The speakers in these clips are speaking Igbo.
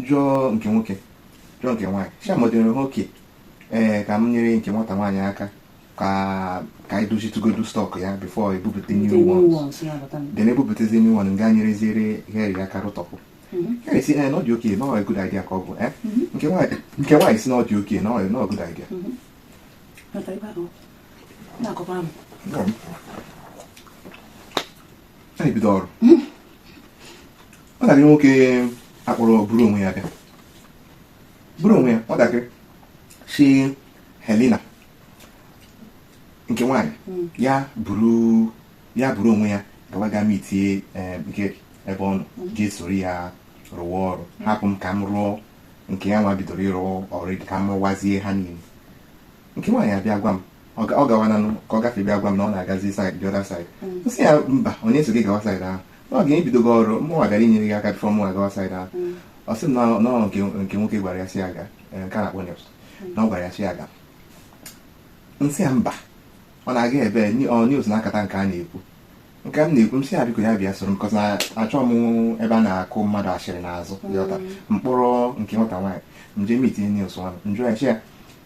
jụọ nke nwoke jụọ nke nwaanyị sị ha ma ọ dịrị ha okay ee ka m nyere nke nwata nwaanyị aka ka ka anyị dozitụgodu stock ya before ebupụta new ones then ebupụtazi new one nga nyereziere Henry aka rụtọpụ Henry sị ee na ọ dị okay na ọ good idea ka ọ bụ eh? nke nwaanyị nke nwaanyị sị na ọ dị okay na ọ na ọ good idea Mm. anyị bido ọrụ hmm. nwatakịrị nwoke akpọrọ buru onwe ya bịa buru onwe ya nwatakịrị sị Helena nke nwaanyị hmm. ya buru ya buru onwe ya gawa ga mitie eh, nke ebe ọ nọ hmm. jee soro ya rụwa ọrụ hapụ m ka m rụọ nke ya nwa bidoro ịrụ ọrụ ka m rụwazie ha niile nke nwaanyị abịa gwa m ọ gawananụ ka ọ gafee bịa gwa m na ọ na-agazi side the other side nsị ya mba onye sị gị gawa side ahụ na ọ ga-ebido gị ọrụ mụnwa gara inyere gị aka before mụnwa gawa side ahụ ọ sị m na no nke nwoke gwara ya sị ya gaa nke a na-akpọ neps na ọ gwara ya sị ya gaa nsị ya mba ọ na-aga ebe ọ news na-akata nke a na-ekwu nke m na-ekwu m sị ya biko ya bịa soro m cos na achọ m ebe a na-akụ mmadụ asịrị n'azụ m kpọrọ nke nwata nwaanyị nje mitie news nwa m njụ ya sị ya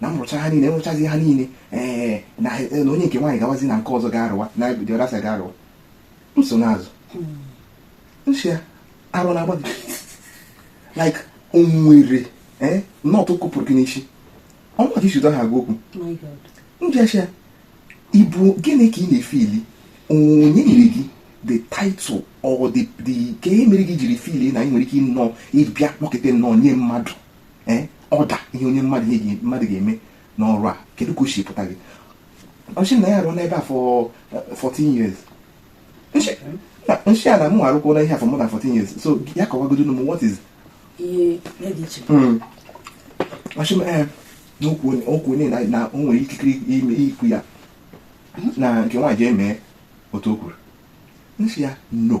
na m rụcha ha niile enwechazi ha niile ee na onye nke nwaanyị gawazi na nke ọzọ ga-arụwa na the other side ga-arụwa nsonaazụ nsị ya ara na-agba gị like o nwere ee nọtụ kụpụrụ gị n'isi ọ mụwa ka ị si otu a agwa okwu njee sị ya ị bụ gịnị ka ị na-efili onye nyere gị the title or the the ikike mere gị jiri fili na ị nwere ike ịnọ ịbịa kpọkịta nnọọ nye mmadụ ee order ihe onye mmadụ ihe mmadụ ga-eme n'ọrụ a kedu ka o si pụta gị ọ sị m na ya arụọ n'ebe a for 14 years nshị ya na mụ arụkwuo n'ihe a for more than 14 years so ya kọwagodo m what is ọ sị m ee n'okwu onye na o nwere ikikere ime ikwu ya na nke nwaanyị jee mee otu o kwuru nsị ya no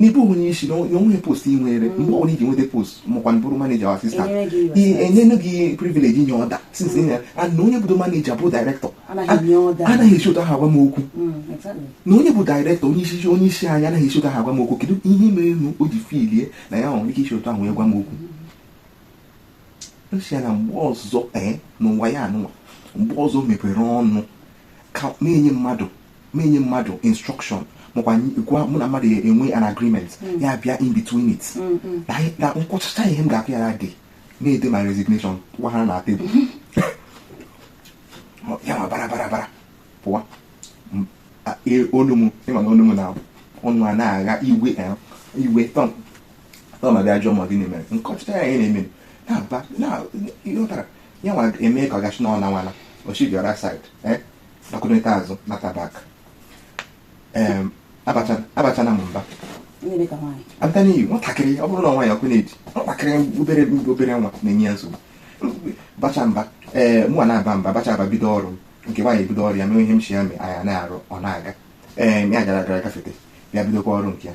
na ị bụghị onye isi na o nweghị post ị nwere mm. mgbe ọbụla ị ji nweta post makwa bụrụ manager or assistant enyenu gị privilege inye order since na onye bụdo manager bụ director anaghị esi otu ahụ agwa m okwu mm, na onye bụ director onye isi onye isi anyị anaghị esi otu ahụ agwa m okwu kedu ihe mere nu o ji filie na ya nwere ike isi otu ahụ wee gwa m okwu nsị ya na mgbe ọzọ ee eh, n'ụwa ya anwa mgbe ọzọ mepere ọnụ ka na-enye mmadụ m enye mmadụ instruction makwa gwa mụ na mmadụ enwe an agreement mm. ya bịa in between it mm, mm. na m kwuchacha ihe m ga-ekwu ya na dị na-ede my resignation gwa ha na tebụl ya m abara bara bara pụwa e, olu m ịma na olu m na-abụ ọnụ a na-agha iwe eh, iwe tọn ọ ma bịa jụọ m gịnị mere m kọchita ya ihe na-eme na-aba na ịghọtara ya nwa eme ka ọ gachi na ọ na nwana o shi the other side nakụrịta azụ nata back Em, abacha- abachala m mba Ndị dị ka nwaanyị. abịa n'iyi nwatakịrị ọ bụrụ na nwaanyị ọkụ na-eji nwatakịrị obere obere nwa na-enye ya nsogbu bacha mba ee mụnwa na-aba mba bacha aba bido ọrụ m nke nwaanyị ebido ọrụ ya mee ihe m si ya mee anyị ana-arụ ọ na-aga ee ya gara gara gafete bịa bidokwa ọrụ nke ya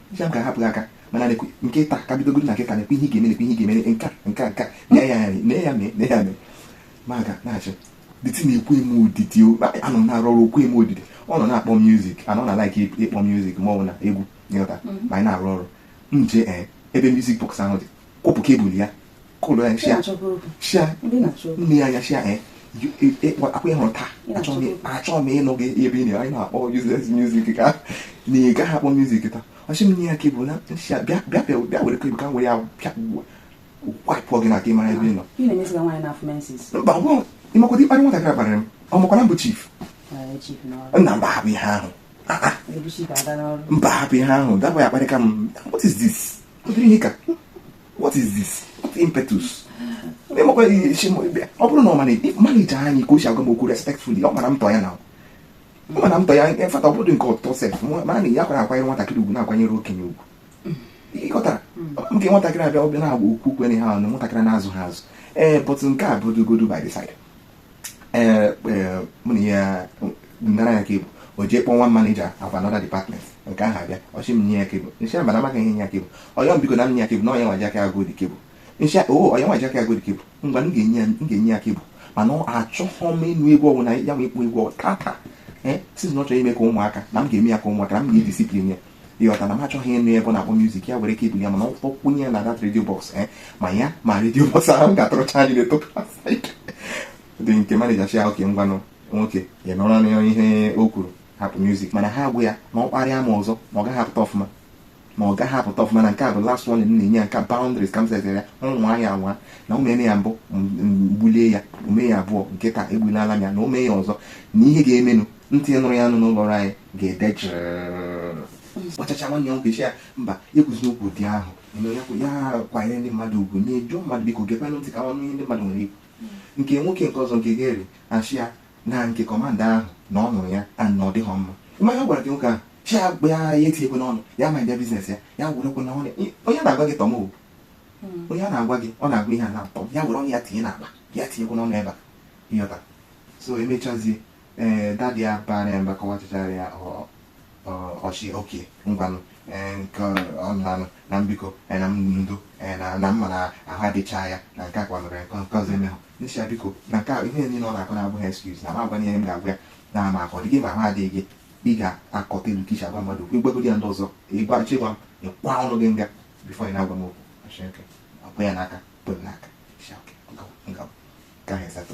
ya m ga-ahapụ gị aka mana nekwe nke taa ka bidogoro kịta nekwe ihe ị ga-eme nekwe ihe ị ga-eme nke a, nke a, nke a. nee ya anya nee ya mee nee ya mee m aga na-achị dịtị na-ekwe m odidi o, anọ m na-arụ ọrụ o kwe m odidi ọ nọ na-akpọ music ana m a like ịkpọ music ma ọ bụ na egwu ịghọta ma anyị na-arụ ọrụ m jee ee ebe music box ahụ dị kwọpụ cable ya kụlụ ya shị ya shị ya nee ya anya shị ya eh, eh, eh, ọkwa ị hụrụ taa achọghị m ịnụ gị ebe ị na anyị na-akpọ useless music ka na ị gaghị akpọ music taa ọ shị m nye ya cable m ashị ya bịa bịa bịa were cable ka m were ya bịa wipe gị n'aka ị mara ebe ị nọ mba ị makwa ụdị mkparị nwatakịrị a kparịrị m ọ makwa na m bụ chief nna mba hapụ ihe ahụ mba hapụ ihe ahụ that boy akparịka m what is this what is this what impetus ọ bụrụ na ọ mana manager anyị ka o si agwa m okwu respectfully ọ mara m tọ ya na ma na m tọ ya in fact ọ bụrụ nke ọ tọ sef mana na ya kwara akwanyere nwatakịrị ugwu na-akwanyere okenye ugwu ịghọtara nke nwatakịrị a bịa ọ bịa na-agba okwu kwere ha ọnụ nwatakịrị na-azụ ha azụ ee but nke a bụdogodu by the side ee ee, mụ na ya nara ya cable o jee kpọọ one manager of another department nke ahụ abịa ọ shị m nye ya cable m shị mba na amaghị m enye ya cable ọ yọọ m biko na m nye ya cable na ọ ya nwa ji aka gote cable m shị o ọ ya nwa ji aka gote cable ngwa m ga-enye ya m ga-enye ya cable mana achọghọ m ịnụ egwu ọbụla ya ma ịkpọ egwu ọbụla tata ee since na ọ chọrọ ime ka ụmụaka na m ga-eme ya ka ụmụaka na m ga-ediscipline ya ịghọta na m achọghị ịnụ ebe ọ na-akpọ music ya were cable ya mana ọ kpọ- kpọkwunye ya na that radio box eh, ma ya ma radio box ahụ m ga-atụrụcha anyị na-eto dị nke manager shị okay ngwanụ nwoke ya nụrụnụ ihe o kwuru hapụ music m ana-agwa ya na ọ kparịa m ọzọ na ọ gaghị apụta ọfụma ma ọ gaghị apụta ọfụma na nke a bụ last one m na-enye ya nke boundaries ka m setere ya o mee ihe a nwa na o meme ya mbụ m gbulie ya o mee ya abụọ nke taa egbulala m ya na o mee ya ọzọ na ihe ga-emenụ ntị nụrụ ya nụ n'ụlọ ọrụ anyị ga-ede ọchacha nwanne ya nwoke sị ya mba ekwuzina okwu ndị ahụ ya kwanyere ndị mmadụ ugwu na-ejuo mmadụ biko gekwanụ ntị ka ọ nụ ihe ndị mmadụ nwere ikwu nke nwoke nke ọzọ nke gere achị ya na nke commander ahụ na ọ nụrụ ya na ọ dịghị mma mmanya gwara gị nwoke ahụ chi ya gba ya ya etinyekwe n'ọnụ ya ma bịa business ya ya were kwe n'ọnụ onye na-agwa gị tọọ m hmm. onye a na-agwa gị ọ na-agwa ihe a na-atọ ya were ọnụ ya tinye n'akpa ya tinyekwe n'ọnụ ebe a ị ghọta so emechazie ee eh, daddy ya baara ya mba kọwachachara ya ọchị okay ngwanụ eh, nke ọnụanụ na biko eh, na ndo na m ma na ahụ adịcha ya na nke a kwanụrụ ya nke ọzọ emehụ nsi ya biko na nke ihe niile ọ na-akọ na ọ bụghị excuse na agwa ihe m ga-agwa ya na ma ahụ ọ dị gị ma ahụ adịghị gị ị ga-acontrol ka i si agwa mmadụ okwu ị gwagodi ya ndị ọzọ ị ga-achọ ịgwa m ịkwa ọnụ gị nga before ị na-agwa m okwu ọkwa ya n'aka kpere n'aka gaghị esatọ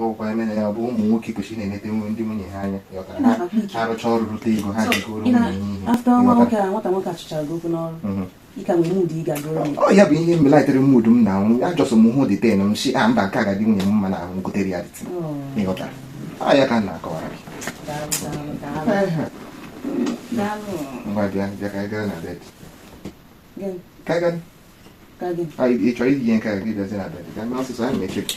ọkwa ị ma na ya bụ ụmụ nwoke kwesịrị na-enete nwe ndị nwunye ha anya arụcha ọrụ rụte ego ha ji goro ụmụ ihe ọ ya bụ ihe me lightere mood m na ahụ a just m hụ the thing m sị a ah, mba nke a ga-adị nwunye m mma n'ahụ gotere ya the thing oh. ị ghọtara ọ ya ka m na-akọwara gị ngwa bịa bịa ka anyị gara na bed ka anyị gara ị chọrọ iji ihe nke gị bịazi na bed ka m mee ọsịsọ anyị mechi gị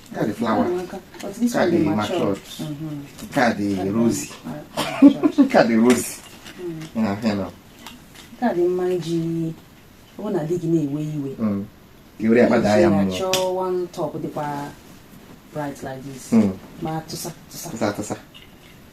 Nke a dị flower. But this nke a dị one matured. Nke a dị rosy. Nke a dị rosy. Na hịa na. Nke a dị mma iji ọ na di gị na-ewe iwe. I were ya kpada ya mmụọ. Chọọ one top dịkwa bright like this. Ma tụsa tụsa. Tụsa tụsa.